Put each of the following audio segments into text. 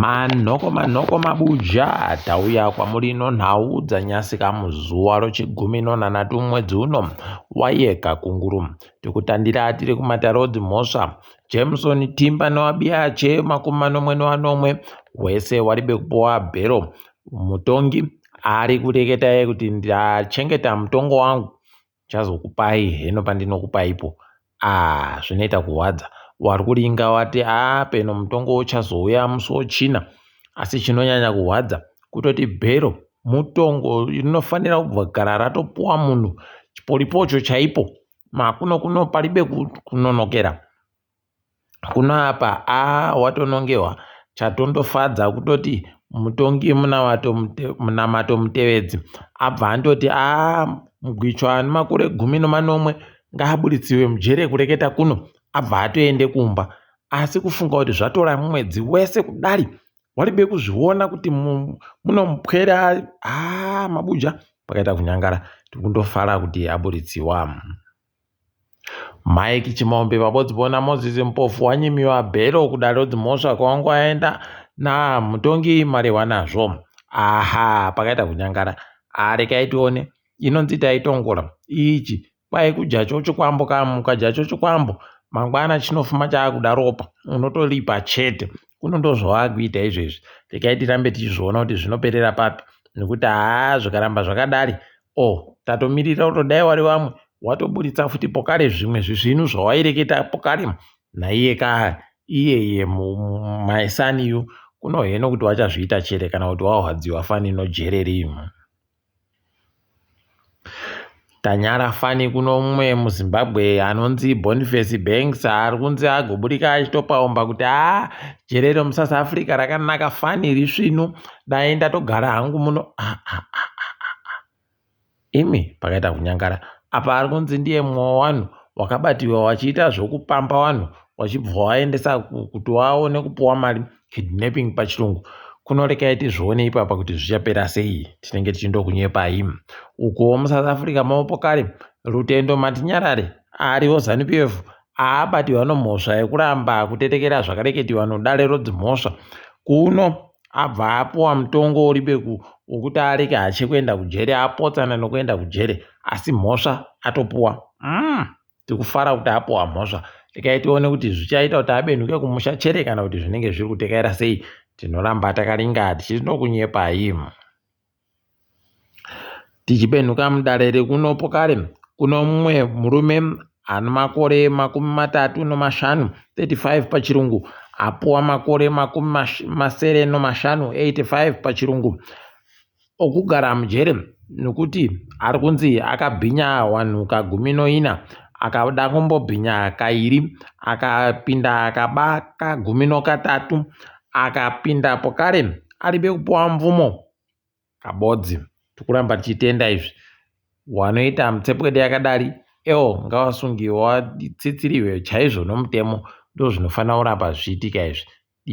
Manhoko manhoko mabuja tauya kwamuri ino nhau dzanyasika muzuva rechigumi nonhanhatu mumwedzi uno waYekakunguru tikutandira tiri kuMatarodzi Mhosva Jameson Timba newaBiache makumi manomwe nevanomwe wese wari bekupuwa bhero mutongi ari kureketa kuti ndachengeta mutongo wangu ndichazokupai heno pandinokupaipo aah zvinoita kurwadza wari kulinga wati aa peno mutongo uchazouya musi wechina asi chinonyanya kurwadza kutoti bhero mutongo rinofanira kubvagara ratopuwa munhu chiporipocho chaipo makuno kuno paribe kunonokera kuno apa aa watonongewa chatondofadza kutoti mutongi munamato mutevedzi abva andoti aa mugwicho ane makore gumi nemanomwe ngaabuditsiwe mujere kureketa kuno abva atoende kumba asi kufunga kuti zvatora mwedzi wese kudari waribe kuzviona kuti munomupwera aa mabuja pakaita kunyangara tikundofara kuti abuditsiwa. Mike Chimombe vabodzibona Moses Mpofu wanyimiwa bhero kudare dzimhosva kwawangu aenda naa mutongi marehwa nazvo aha pakaita kunyangara ah rekai tione inonzi taitongola ichi kwai kudya chocho kwambo kam ukadya chocho kwambo mangwana chinofuma chaakuda ropa unotolipa chete kuno ndozvawaakuita izvezvi rekai tirambe tichizviona kuti zvinoperera papi nekuti haa zvikaramba zvakadari Ohh tatomirira kuti dai wari vamwe watoburitsa futi pokare zvimwe zvisvinu zvawaireketa pokare naiye ka iyeye my son you kuno heno kuti wachazviita chere kana kuti wahwadziwa fani inojererimu tanyara fani kuno mumwe muzimbabwe anonzi boniface banks ari kunzi agoburika achitopaumba kuti haa jere remusouth africa rakanaka fani iri svinu dai ndatogara hangu muno ah, ah, ah, ah, ah. ah. imi pakaita kunyangara apa ari kunzi ndiye mumwe wavanhu wakabatiwa wachiita zvokupamba vanhu wachibva waendesa kuti waone kupiwa mari kidnapping pachirungu kunorekai tizvione ipapa kuti zvichapera sei tinenge tichindokunyepai ukuwo musouth africa maopo kare rutendo matinyarare ariwo zanupf haabatirwa nomhosva yekuramba kutetekera zvakareketiwa nodare rodzimhosva kuno abva apuwa mutongo uri beku wokuti arege hache kuenda kujere apotsana nokuenda kujere asi mhosva atopuwa mm, tiri kufara kuti apuwa mhosva regai tione kuti zvichaita kuti abenhuke kumusha chere kana kuti zvinenge zviri kutekaira sei tinoramba takaringa tichinokunyepai Tichipenhuka mudare rekuno pokare, kuno mumwe murume ane makore makumi matatu nemashanu, 35 pachirungu, apuwa makore makumi masere nemashanu, 85 pachirungu, okugara mujere nekuti ari kunzi akabhinya wanhu kagumi noina, akada kumbobhinya kairi, akapinda akaba kagumi nokatatu, akapinda pokare aribe kupuwa mvumo. Kabodzi tikuramba tichitenda izvi wanoita mutsepwede yakadari eo ngavasungiwe vatsitsiriwe chaizvo nomutemo ndozvinofanira kuramba zvichiitika izvi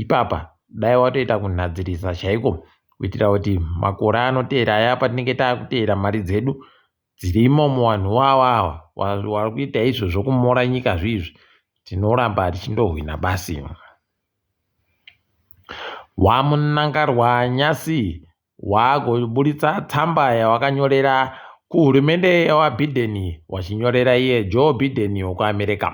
ipapa dai watoita kunhadzirisa chaiko kuitira kuti makore anoteera aya patinenge takuteera mari dzedu dzirimo muvanhu ivavo ava vari kuita izvo zvokumora nyika zviizvi tinoramba tichindohwina basi wamunangarwa nyasi waakuburitsa tsamba yawakanyorera kuhurumende yawabiden wachinyorera iye joe biden wekuamerica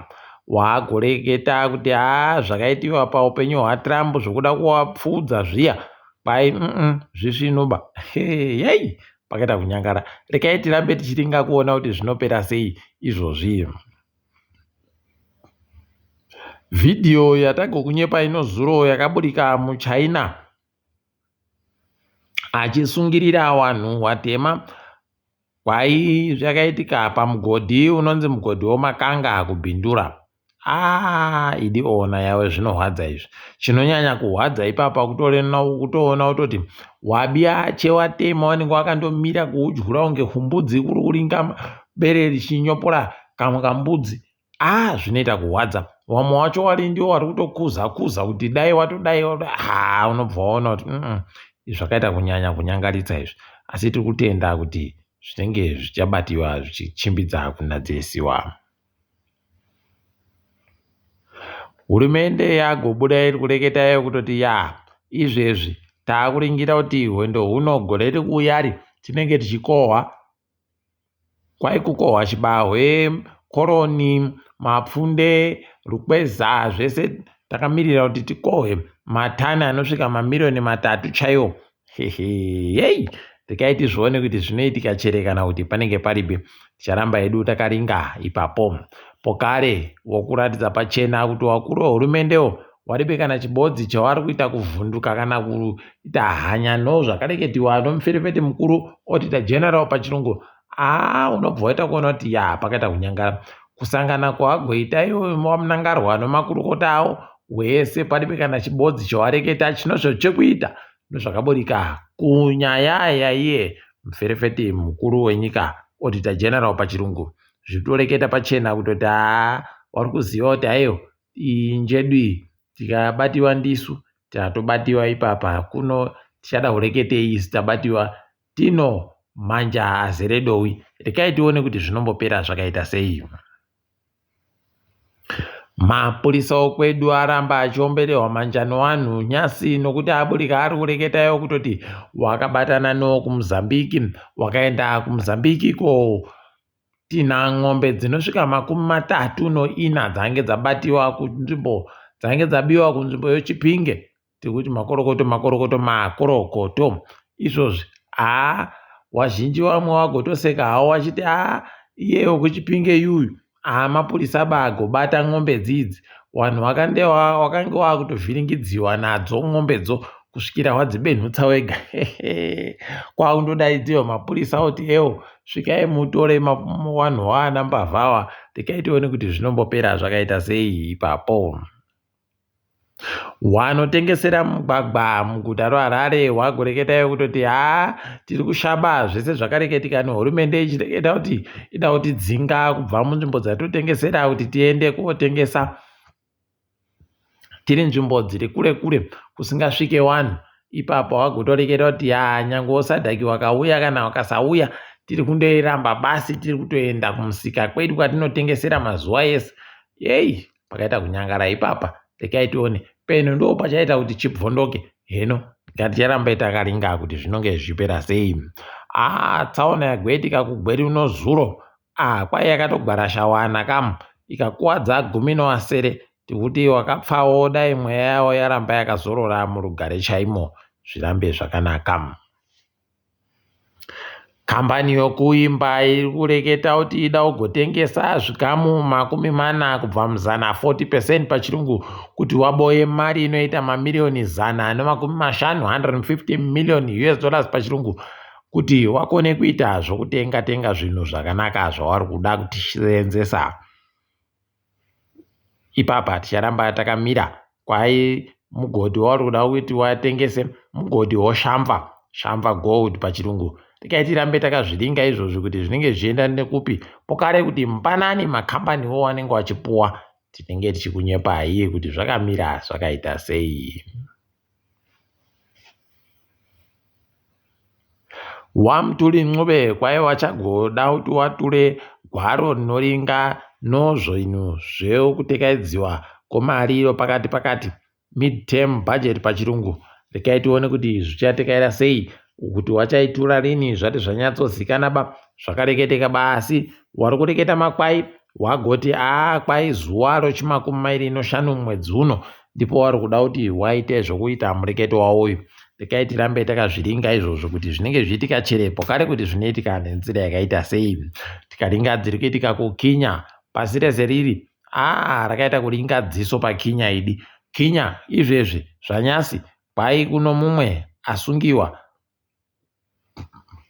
waakureketa kuti haa zvakaitiwa paupenyu hwatrump zvokuda kuwapfuudza zviya kwai mm zvisvinuba heyei pakaita kunyangara rekai tirambe tichiringa kuona kuti zvinopera sei izvozvi vhidhiyo yatagokunyepa inozuro yakaburika muchina achisungirira vanhu watema kwai zvakaitika pamugodhi unonzi mugodhi womakanga kubhindura Haa idi ona yawe zvinorwadza izvi chinonyanya kurwadza ipapa kutoona kutoti wabiache watema wanenge wakandomira kuudyura kunge kumbudzi kuri kuringa bere richinyopora kamwe kambudzi aa zvinoita kurwadza wamwe wacho wari ndiwo wari kutokuza kuza kuti dai watodai haa unobva waona kuti zvakaita kunyanya kunyangaritsa izvi asi tiri kutenda kuti zvinenge zvichabativa zvichichimbidza kunadzirisiwa Hurumende yakubuda iri kureketa kuti yaa izvezvi takuringira kuti hwendo huno gore riri kuuya iri tinenge tichikohwa kwai kukohwa chibahwe, koroni, mapfunde, rukweza zvese takamirira kuti tikohwe matani anosvika mamiriyoni matatu chaiwo heyi regai tizvione kuti zvinoitika chere kana kuti panenge paripi ticharamba hedu takaringa ipapo pokare wokuratidza pachena kuti wakuru wehurumendewo waribe kana chibodzi chawari kuita kuvhunduka kana kuita hanya no zvakareketiwa nomuferefeti mukuru otita general pachirungu haa unobva waita kuona kuti ya pakaita kunyangara kusangana kwawagoita ivo vamunangarwa nomakurukota avo wese padibe kana chibodzi chowareketa chinozvo chekuita nozvakaburika kunyaya yaiye muferefeti mukuru wenyika odita general pachirungu zvitoreketa pachena kutoti haa wari kuziva kuti haiyo injedui tikabatiwa ndisu tatobatiwa ipapa kuno tichada kureketei isu tabatiwa Tino, Manja azere dowi, regai tione kuti zvinombopera zvakaita sei. Mapurisa okwedu aramba achiomberehwa manjano wanhu nyasi nokuti aburika ari kureketa yo kutoti wakabatana no kumuzambiki wakaenda kumuzambiki ko tina ng'ombe dzinosvika makumi matatu noina dzange dzabatiwa kunzvimbo dzange dzabiwa kunzvimbo yochipinge tekuti makorokoto makorokoto makorokoto izvozvi haa wazhinji vamwe wagotoseka hawo wachiti haa iyeyo kuchipinge yuyu haa mapurisa bagobata n'ombe dzidzi vanhu vakange vakutovhiringidziwa nadzo n'ombe dzo kusvikira wadzibenhutsa wega kwakundodaidziwa mapurisa kuti ewo svikai mutore vanhu waana mbavhawa tikai tione kuti zvinombopera zvakaita sei ipapo Wanotengesera mugwagwa muguta reHarare wakureketa kutoti haa tiri kushaba zvese zvakareketika nehurumende ichireketa kuti ida kutidzinga kubva munzvimbo dzatinotengesera kuti tiende kotengesa tiri nzvimbo dziri kure kure kusingasvike wani ipapo wakutoreketa kuti yaa nyangwe usadhaki wakauya kana ukasauya tiri kundoiramba basi tiri kutoenda kumusika kwedu kwatinotengesera mazuwa ese heyi. pakaita kunyangara ipapa regai tione peno ndoo pachaita kuti chibvondoke heno ngaticharamba takaringa kuti zvinonge zvipera sei aa tsaona yagweti kakugweri uno zuro aa kwai yakatogwara shawana kam ikakuwadza gumi noasere tikuti wakapfawo dai mweya yawo yaramba yakazorora murugare chaimo zvirambe zvakanaka Kambani yokuimba iri kureketa kuti ida kugotengesa zvikamu makumi mana kubva muzana, 40 percent pachirungu, kuti waboe mari inoita mamiriyoni zana nemakumi mashanu, 150 million us dollars pachirungu, kuti wakone kuita zvokutenga-tenga zvinhu zvakanaka zvauri kuda kuseenzesa. ipapa ticharamba takamira kwai mugodhi wauri kuda kuti watengese mugodhi woshamva shamva gold pachirungu tikai tirambe takazviringa izvozvi kuti zvinenge zvichienda nekupi pokare kuti mpanani makambaniwo wanenge wachipuwa tinenge tichikunyepai kuti zvakamira zvakaita sei Wamutuli Ncube kwaiva chagoda kuti watule gwaro rinoringa nozvinhu zvekutekaidziwa kwemariro pakati pakati, mid-term budget pachirungu, rikati tione kuti zvichatekayira sei kuti wachaitura rini zvati zvanyatsozikana ba zvakareketeka ba asi wari kureketa makwai wagoti aa kwai zuva rochimakumi mairi inoshanu mumwedzi uno ndipo wari kuda kuti waite zvokuita mureketi wawo uyu rekai tirambe takazviringa izvozvo kuti zvinenge zviitika chirepo kare kuti zvinoitika nenzira yakaita sei tikaringa dziri kuitika kukinya pasi rese riri aa rakaita kuringa dziso pakinya idi kinya izvezvi zvanyasi Kwahi kuno mumwe asungiwa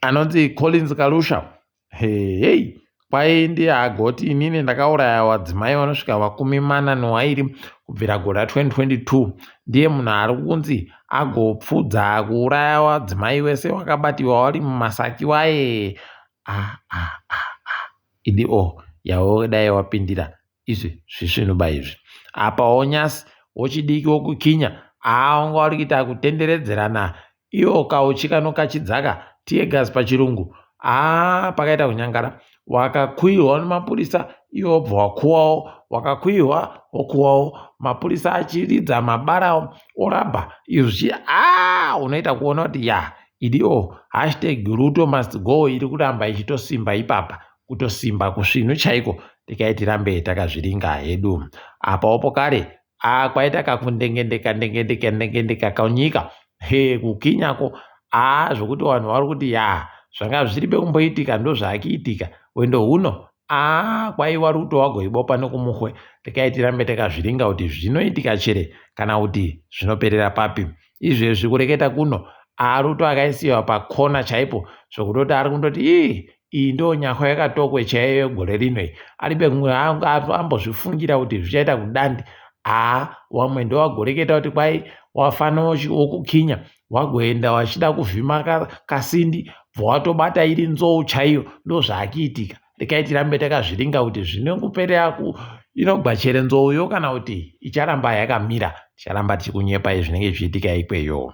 anonzi Collins Kalusha. Hey, hey. Kwahi ndiye agoti inini ndakauraya wadzimai vanosvika vakumi mana newairi kubvira gora 2022 ndiye munhu ari kunzi agopfudza kuuraya wadzimai wese wakabatiwa wari mumasaki waye ah, ah, ah, ah. idi o oh, yawo dai wapindira izvi zvisvinuba izvi apa onyasi wochidiki wokukinya aa wanga wari kuita kutenderedzerana iwo kauchi kanokachidzaka tiegas pachirungu aa pakaita kunyangara wakakuihwa nemapurisa iwo wobva wakuwawo wakakuihwa wokuwawo mapurisa achiridza mabara orabha izvi aa unoita kuona kuti ya idiwo hashtag ruto must go iri kuramba ichitosimba ipapa kutosimba kusvinu chaiko tikai tirambe takazviringa hedu apawo pokare a kwaita kakundengendeka ndengendeka ndengendeka kaunyika he kukinyako a zvokuti vanhu vari kuti ya zvanga zviri bekumboitika ndozvaakiitika wendo huno a kwaiva ruto wagoibopa nokumuhwe tikai tirambe takazviringa kuti zvinoitika chere kana kuti zvinoperera papi izvezvi kureketa kuno aruto akaisiwa pakona chaipo zvokutoti ari kundoti ii iyi ndo nyahwa yakatokwe chaiyo yegore rino iyi ari pekungwe anga ambozvifungira kuti zvichaita kudandi haa wamwe ndowagoreketa kuti kwai wafana wokukinya wagoenda wachida kuvhima kasindi bva watobata iri nzou chaiyo ndozvaakiitika rekai tirambe takazviringa kuti zvinenguperera ku inogwachere nzouyo kana kuti icharamba yakamira ticharamba tichikunyepai zvinenge zvichiitika ikweyo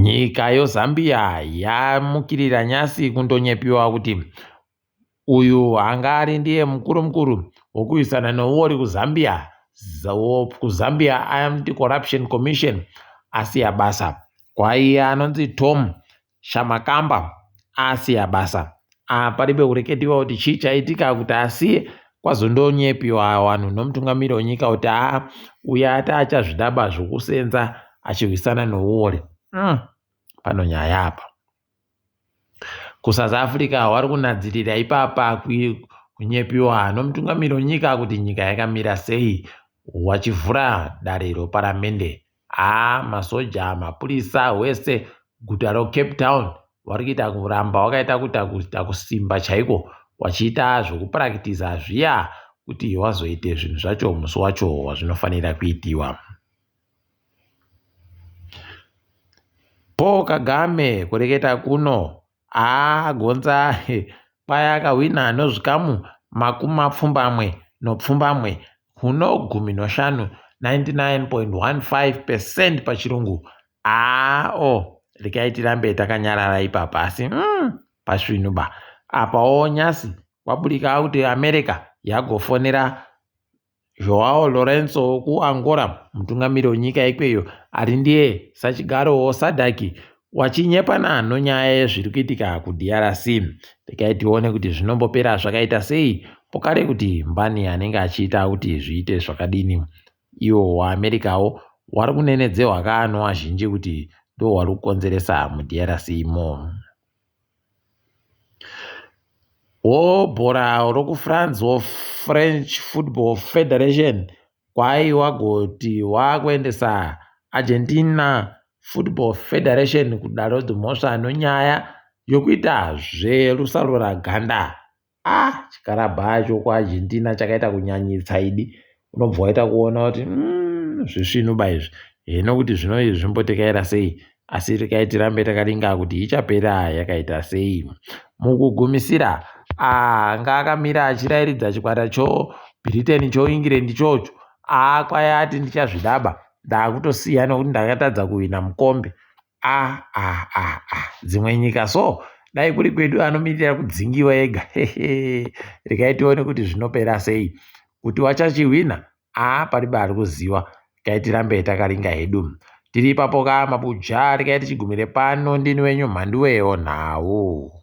Nyika yoZambia yamukirira nyasi kundonyepiwa kuti uyu anga ari ndiye mukuru mukuru wokurwisana nouori kuZambia, kuZambia Anti Corruption Commission asiya basa. Kwaiye anonzi Tom Shamakamba asiya basa apa pari pekureketiwa kuti chii chaitika kuti asiye kwazondonyepiwa vanhu nomutungamiri wenyika kuti aa uya ati achazvidaba zvokusenza achihwisana nouwori mm. pano nyaya apa kusouth africa wari kunadzirira ipapa kunyepiwa nomutungamiri wenyika kuti nyika yakamira sei wachivhura dare roparamende Haa masoja, mapurisa wese guta reCape Town vari kuita kuramba wakaita kuita kuita kusimba chaiko wachiita zvekupurakitiza zviya kuti wazoita zvinhu zvacho musi wacho wazvinofanira kuitiwa. Paul Kagame kureketa kuno Haa Gonza paya akahwina nozvikamu makumi mapfumbamwe nopfumbamwe huno gumi noshanu, 99.15 percent pachirungu. Haa oh regai tirambe takanyarara ipapa asi umm pasvinu ba apawo nyasi kwaburika kuti America yagofonera Joao Lourenço wekuAngola, mutungamiri wenyika ikweyo ari ndiye sachigaro weSADC, wachinyepa nano nyaya yezviri kuitika kuDRC. Regai tione kuti zvinombopera zvakaita sei, pokare kuti mbani anenge achiita kuti zviite zvakadini. Iwo waAmericawo wari kunenedzehwa kaano azhinji kuti ndohwari kukonzeresa muDRC imo. Wobhora rokuFrance weFrench Football Federation kwaiva goti wakuendesa Argentina Football Federation kudare dzemhosva nenyaya yekuita zverusaruraganda. ah chikarabhaa icho kuArgentina chakaita kunyanyisa idi unobva waita kuona kuti mm, zvisvinuba izvi hino kuti zvino izvi zvimbotekaira sei asi rekai tirambe takaringa kuti ichapera yakaita sei mukugumisira anga ah, akamira achirairidza chikwata cho britain cho england chocho akwaya ah, ati ndichazvidaba ndakutosiya nokuti ndakatadza kuhwina mukombe Ah ah ah ah dzimwe nyika so dai kuri kwedu anomirira kudzingiwa ega hehe regai tione kuti zvinopera sei kuti wachachihwina aa ah, paribe ari kuziwa regai tirambe takaringa hedu tiri ipapo ka mabuja regai tichigumire pano ndini wenyu mhanduweyo nhau